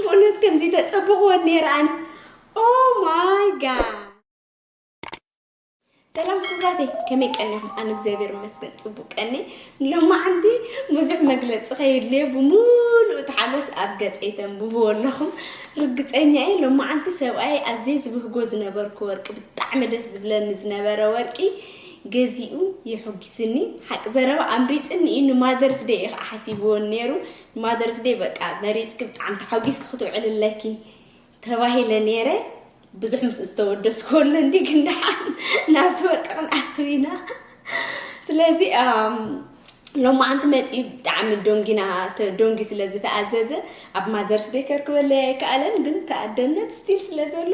ብኡነት ከምዚ ተጸብቕወን ነይረ ኣነ ኦ ማይ ጋድ ሰላም ክብራተይ ከመይ ቀኒኹም? ኣነ እግዚኣብሔር ይመስገን ፅቡቅ ቀኒ ሎማዓንቲ ብዙሕ መግለፂ ከየድልየ ብምሉእ ተሓጎስ ኣብ ገፀይ ተንብብዎ ኣለኹም ርግፀኛ እየ ሎማዓንቲ ሰብኣይ ኣዝየ ዝብህጎ ዝነበርኩ ወርቂ ብጣዕሚ ደስ ዝብለኒ ዝነበረ ወርቂ ገዚኡ የሕጒስኒ ሓቂ ዘረባ ኣምሪፅኒ እዩ ንማዘርስ ደይ እዩ ከዓ ሓሲብዎን ነይሩ ማዘርስ ደይ በቃ መሪጽኪ ብጣዕሚ ተሓጒስኪ ክትውዕሊ ኣለኪ ተባሂለ ነይረ ብዙሕ ምስ ዝተወደስኩ ኣሎ እንዲ ግን ደሓን ናብቲ ወርቂ ክንኣትው ኢና ስለዚ ሎማዓንቲ መፂኡ ብጣዕሚ ዶንጊና ዶንጊ ስለ ዝተኣዘዘ ኣብ ማዘርስ ደይ ከርክበለይ ኣይከኣለን ግን ተኣደነት ስቲል ስለ ዘሎ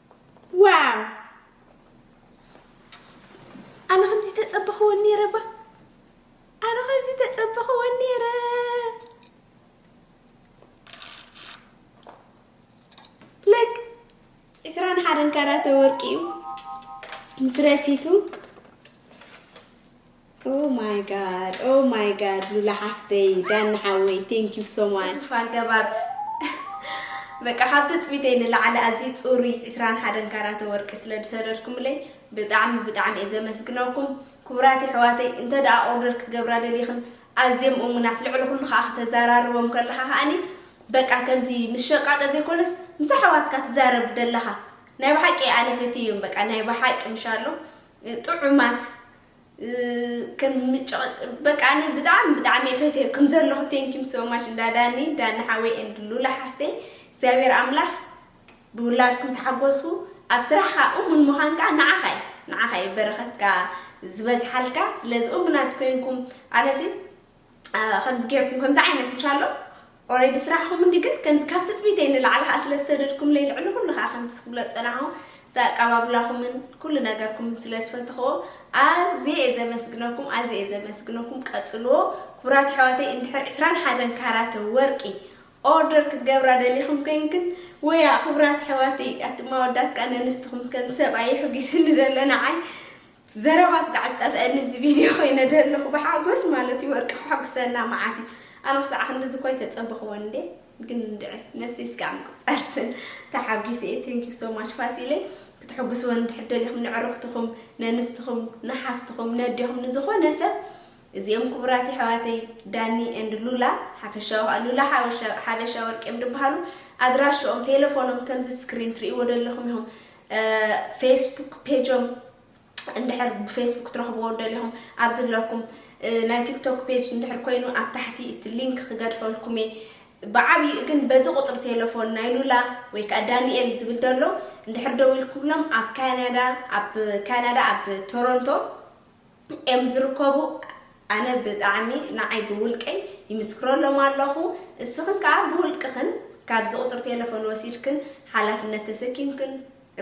ዋው ኣነ ከምዚ ተጸበኽወን ነይረ ባ ኣነ ከምዚ ተጸበኽወን ነይረ ልክ ዕስራን ሓደን ካራተ ወርቂ እዩ ምስ ረሲቱ Oh my God oh my God ሉላ ሓፍተይ ዳኒ ሓወይ thank you so much። ኡፍ ኣገባብ በቃ ካብ ትጽቢተይ ንላዕሊ ኣዝዩ ጽሩይ ዕስራን ሓደን ካራቶ ወርቂ ስለ ዝሰደድኩምለይ ብጣዕሚ ብጣዕሚ እየ ዘመስግነኩም ክቡራት የሕዋተይ እንተ ደኣ ኦርደር ክትገብራ ደሊኽን ኣዝዮም እሙናት ልዕሊ ኩሉ ከኣ ክተዛራርቦም ከለኻ ከኣኒ በቃ ከምዚ ምስ ሸቃጦ ዘይኮነስ ምስ ኣሕዋትካ ትዛረብ ደለኻ ናይ ብሓቂ ኣነ ፈትየዮም በቃ ናይ ብሓቂ ምሻሎ ጥዑማት በቃ ኣነ ብጣዕሚ ብጣዕሚ እየ ፈትየኩም ዘለኹ ቴንኪም ሶማች እንዳ ዳኒ ዳኒ ሓወይ ኤንድ ሉላ ሓፍተይ እግዚኣብሔር ኣምላኽ ብውላድኩም ተሓጎሱ ኣብ ስራሕኻ እሙን ምዃን ከዓ ንዓኻ እዩ ንዓኻ እዩ በረኸትካ ዝበዝሓልካ ስለዚ እሙናት ኮይንኩም ኣነሲ ከምዚ ጌርኩም ከምዚ ዓይነት ብቻ ኣሎ ኦሬዲ ስራሕኹም እንዲ ግን ከምዚ ካብ ትፅቢተይ ንላዕሊ ከዓ ስለ ዝሰደድኩምለይ ልዕሊ ኩሉ ከዓ ከምቲ ስክብሎ ፀናኹም ብኣቀባብላኹምን ኩሉ ነገርኩምን ስለ ዝፈተኽዎ ኣዝየ እየ ዘመስግነኩም ኣዝየ እየ ዘመስግነኩም ቀፅልዎ ክቡራት ኣሕዋተይ እንድሕር ዕስራን ሓደን ካራተ ወርቂ ኦርደር ክትገብራ ደሊኹም ኮይንክን ወያ ክቡራት ኣሕዋተይ ኣቲ ማወዳት ከዓ ነንስትኹም ከም ሰብኣይ ሕጒስኒ ደሎ ንዓይ ዘረባ ስጋዕ ዝጠፈኣኒ ኣብዚ ቪድዮ ኮይነ ደለኹ ብሓጎስ ማለት እዩ ወርቂ ከሐጉሰና መዓት እዩ ኣነ ክሳዕ ክንድዚ እኮ ኣይተጸበኽዎን እንዴ ግን እንድዒ ነብሰይ ስጋዕ ምቁጻር ስን ተሓጒሰ እየ ቴንክ ዩ ሶ ማች ፋሲለይ ክትሕጉስወን እንድሕር ደሊኹም ንዕርኽትኹም ነንስትኹም ንሓፍትኹም ነዴኹም ንዝኾነ ሰብ እዚኦም ክቡራት የሕዋተይ ዳኒ ኤንድ ሉላ ሓፈሻዊ ከዓ ሉላ ሓበሻ ወርቂ እዮም ድበሃሉ ኣድራሽኦም ቴሌፎኖም ከምዚ ስክሪን ትርእይዎ ደለኹም ኢኹም ፌስቡክ ፔጆም እንድሕር ብፌስቡክ ክትረኽብዎ ደሊኹም ኣብዚ ኣለኩም ናይ ቲክቶክ ፔጅ እንድሕር ኮይኑ ኣብ ታሕቲ እቲ ሊንክ ክገድፈልኩም እየ ብዓብይኡ ግን በዚ ቁፅሪ ቴሌፎን ናይ ሉላ ወይ ከዓ ዳንኤል ዝብል ደሎ እንድሕር ደው ኢልኩብሎም ኣብ ካናዳ ኣብ ካናዳ ኣብ ቶሮንቶ እዮም ዝርከቡ ኣነ ብጣዕሚ ንዓይ ብውልቀይ ይምስክረሎም ኣለኹ እስኽን ከኣ ብውልቅኽን ካብዚ ቁጽሪ ቴለፎን ወሲድክን ሓላፍነት ተሰኪምክን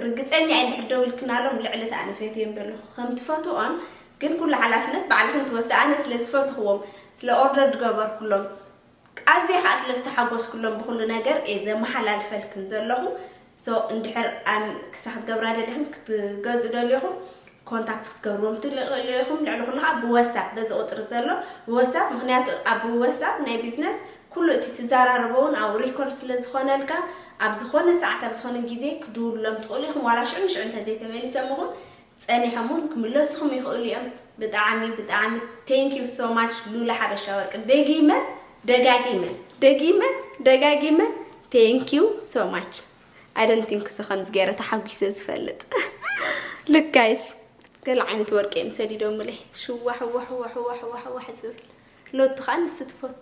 ርግጸኛ እየ እንድሕር ደዊልክናሎም ልዕሊ እቲ ኣነ ፈትዮም ዘለኹ ከም ትፈትዎን ግን ኩሉ ሓላፍነት ባዕልኽን ትወስዳ ኣነ ስለ ዝፈትኽዎም ስለ ኦርደር ዝገበርኩሎም ኣዝየ ከኣ ስለ ዝተሓጎስኩሎም ብኩሉ ነገር እየ ዘመሓላልፈልክን ዘለኩ so እንድሕር ኣም ክሳ ክትገብራ ደሊክን ክትገዝኡ ደሊኩም ኮንታክት ክትገብርዎም ትልእሉ ኢኩም ልዕሊ ኩሉ ከኣ ብወሳፕ በዚ ቁጽሪ ዘሎ ብወሳፕ ምክንያቱ ኣብ ወሳፕ ናይ ቢዝነስ ኩሉ እቲ ትዛራረቦ ውን ኣብኡ ሪኮርድ ስለ ዝኮነልካ ኣብ ዝኮነ ሰዓት ኣብ ዝኮነ ግዜ ክድውሉሎም ትክእሉ ኢኩም ዋላ ሽዑ ንሽዑ እንተ ዘይተመሊሰምኩም ጸኒሖም ውን ክምለሱኹም ይኽእሉ እዮም። ብጣዓሚ ብጣዓሚ thank you so much ሉላ ሓበሻ ወርቂ ደጊመ ደጋጊመ ደጊመ ደጋጊመ thank you so much I don't think so ከምዚ ገይረ ተሓጒሰ ዝፈልጥ look guys ገለ ዓይነት ወርቂ እዮም ሰዲዶምለይ ሽዋሕዋሕዋሕዋሕዋሕዋሕ ዝብል ሎቱ ከዓ ንሱ ትፈቱ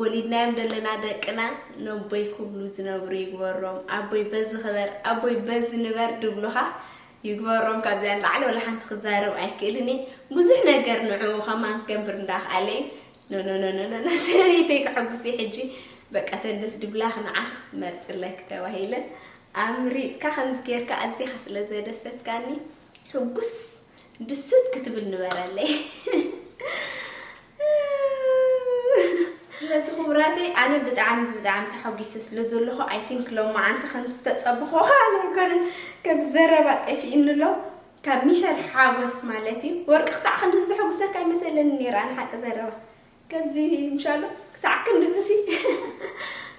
ወሊድናዮም ደለና ደቅና ነቦይ ክብሉ ዝነብሩ ይግበሮም ኣቦይ በዚ ክበር ኣቦይ በዚ ንበር ድብሉኻ ይግበሮም ካብዚኣ ንላዕሊ ወላ ሓንቲ ክዛረብ ኣይክእልን እየ ብዙሕ ነገር ንዕኡ ከማን ክገብር እንዳክኣለ እዩ ኖኖኖኖኖ ሰበይተይ ክሕጉስ እዩ ሕጂ በቃ ተንደስ ድብላኽ ንዓኽ መርፅለክ ተባሂለ ኣምሪፅካ ከምዚ ጌርካ ኣዚኻ ስለ ዘደሰትካኒ ሕጉስ ድስት ክትብል ንበረለይ ስለዚ ክቡራተይ ኣነ ብጣዕሚ ብጣዕሚ ተሓጒሰ ስለ ዘለኹ ኣይ ቲንክ ሎም መዓንቲ ከም ዝተፀበኹ ካነ ይኮነ ከም ዘረባ ጠፊእኒ ኣሎ ካብ ሚሕር ሓጎስ ማለት እዩ ወርቂ ክሳዕ ክንዲ ዘሐጉሰካ ይመሰለኒ ነይረ ኣነ ሓቂ ዘረባ ከምዚ ምሻሉ ክሳዕ ክንድዝሲ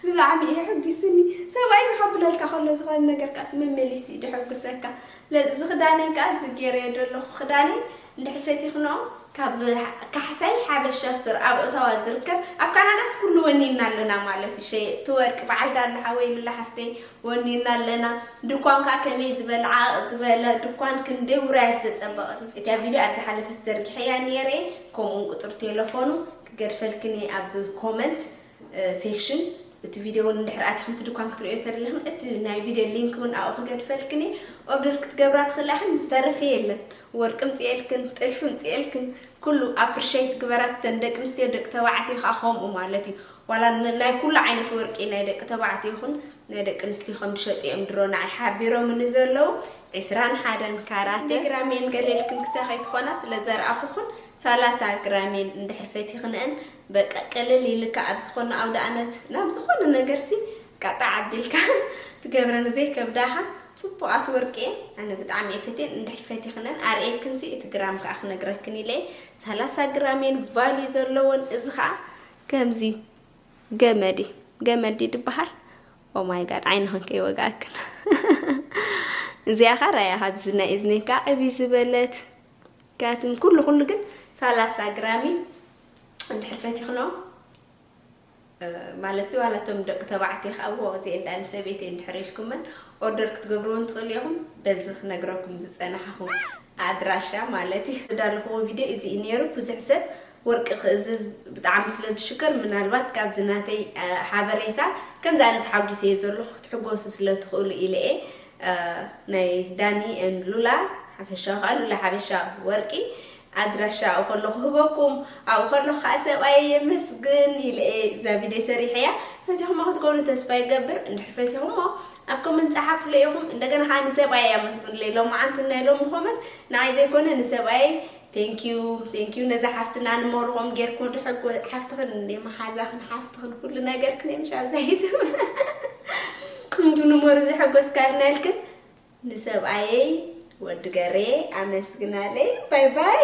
ብጣዕሚ እዩ ሕጒሱኒ ሰብኣይ ክኸብለልካ ከሎ ዝኾነ ነገር ከዓስ መመሊሱ እዩ ድሕጉሰካ እዚ ክዳነይ ከዓ እዚ ገይረዮ ዘለኹ ክዳነይ እንድሕር ፈቲኽንኦ ካብ ካሕሳይ ሓበሻ ስቶር ኣብ ኦታዋ ዝርከብ ኣብ ካናዳስ ኩሉ ወኒንና ኣለና ማለት እዩ ሸየጥቲ ወርቂ በዓል ዳሉ ሓወይ ሉላ ሓፍተይ ወኒንና ኣለና ድኳን ከዓ ከመይ ዝበለ ዓቕ ዝበለ ድኳን ክንደይ ውራያት ዘፀበቐት እቲ ኣብ ቪድዮ ኣብ ዝሓለፈት ዘርጊሐያ ነይረ ከምኡውን ቁጽሪ ቴለፎኑ ክገድፈልክን እየ ኣብ ኮመንት ሴክሽን እቲ ቪድዮ እውን እንድሕር ኣቲኽን እቲ ድኳን ክትርእዮ ተደሊኽን እቲ ናይ ቪድዮ ሊንክ እውን ኣብኡ ክገድፈልክን እየ ኦርደር ክትገብራ ትኽእላ ኢኽን ዝተረፈ የለን ወርቂ ምፅኤልክን ጥልፊ ምፅኤልክን ኩሉ ኣፕሪሸይት ግበራት ተን ደቂ ኣንስትዮ ደቂ ተባዕትዮ ከዓ ከምኡ ማለት እዩ ዋላ ናይ ኩሉ ዓይነት ወርቂ ናይ ደቂ ተባዕትዮ ይኹን ናይ ደቂ ኣንስትዮ ከም ዝሸጡ እዮም ድሮ ንዓይ ሓቢሮምኒ ዘለዉ ዕስራን ሓደን ካራት ክንደይ ግራም እየን ገለ ኢልክን ክሳብ ከይትኾና ስለ ዘርኣኹኽን ሰላሳ ግራም እየን እንድሕር ፈቲኽንኤን በቃ ቅልል ኢልካ ኣብ ዝኾነ ኣውደኣመት ናብ ዝኾነ ነገርሲ ቃጣዕ ኣቢልካ ትገብረን ዘይከብዳኻ ጽቡቓት ወርቂ እየን ኣነ ብጣዕሚ እየ ፈትየን እንድሕር ፈቲኽነን ኣርእየክንሲ እቲ ግራም ከዓ ክነግረክን ኢለ እየ ሰላሳ ግራም እየን ቫልዩ ዘለወን እዚ ከዓ ከምዚ ገመዲ ገመዲ ድበሃል ኦማይ ጋድ ዓይንኽን ከይወግኣክን እዚኣ ኸ ራያ ካብዚ ናይ እዝኒ ካ ዕቢ ዝበለት ካትም ኩሉ ኩሉ ግን ሰላሳ ግራሚ እንድሕር ፈቲኽኖ ማለት ዋላ እቶም ደቂ ተባዕትዮ ከዓ ዎ እዚ እንዳ ንሰበይቲ እንድሕር ኢልኩመን ኦርደር ክትገብርዎን ትኽእሉ ኢኹም በዚ ክነግረኩም ዝፀናሕኹ ኣድራሻ ማለት እዩ እዳለኹዎ ቪድዮ እዚ እዩ ነይሩ ብዙሕ ሰብ ወርቂ ክእዝዝ ብጣዕሚ ስለ ዝሽክር ምናልባት ካብዚ ናተይ ሓበሬታ ከምዚ ኣነ ተሓጒሰ እየ ዘለኹ ክትሕጎሱ ስለ ትኽእሉ ኢለ እየ ናይ ዳኒ ን ሉላ ሓፈሻዊ ከዓ ሉላ ሓበሻ ወርቂ ኣድራሻኡ ከሎ ክህበኩም ኣብኡ ከለኹ ከዓ ሰብኣየ የመስግን ኢለ እየ እዛ ቪድዮ ሰሪሐ እያ ፈቲኹሞ ክትከውኑ ተስፋ ይገብር እንድሕር ፈቲኹሞ ኣብ ኮመንት ፀሓፍለ ኢኹም እንደገና ከዓ ንሰብኣየ ኣመስግንለይ ሎማዓንቲ ናይ ሎሚ ኮመንት ንዓይ ዘይኮነ ንሰብኣየ Thank you thank you ነዛ ሓፍትና ንመርቆም ጌርክሞ ድሕጎ ሓፍትኽን እንደ መሓዛኽን ሓፍትኽን ኩሉ ነገርክን እዮም ሻብዛይት እንዱ ንመሩ ዘሐጎስካልና ኢልክን ንሰብኣየይ ወዲ ገሬ ኣመስግናለይ ባይ ባይ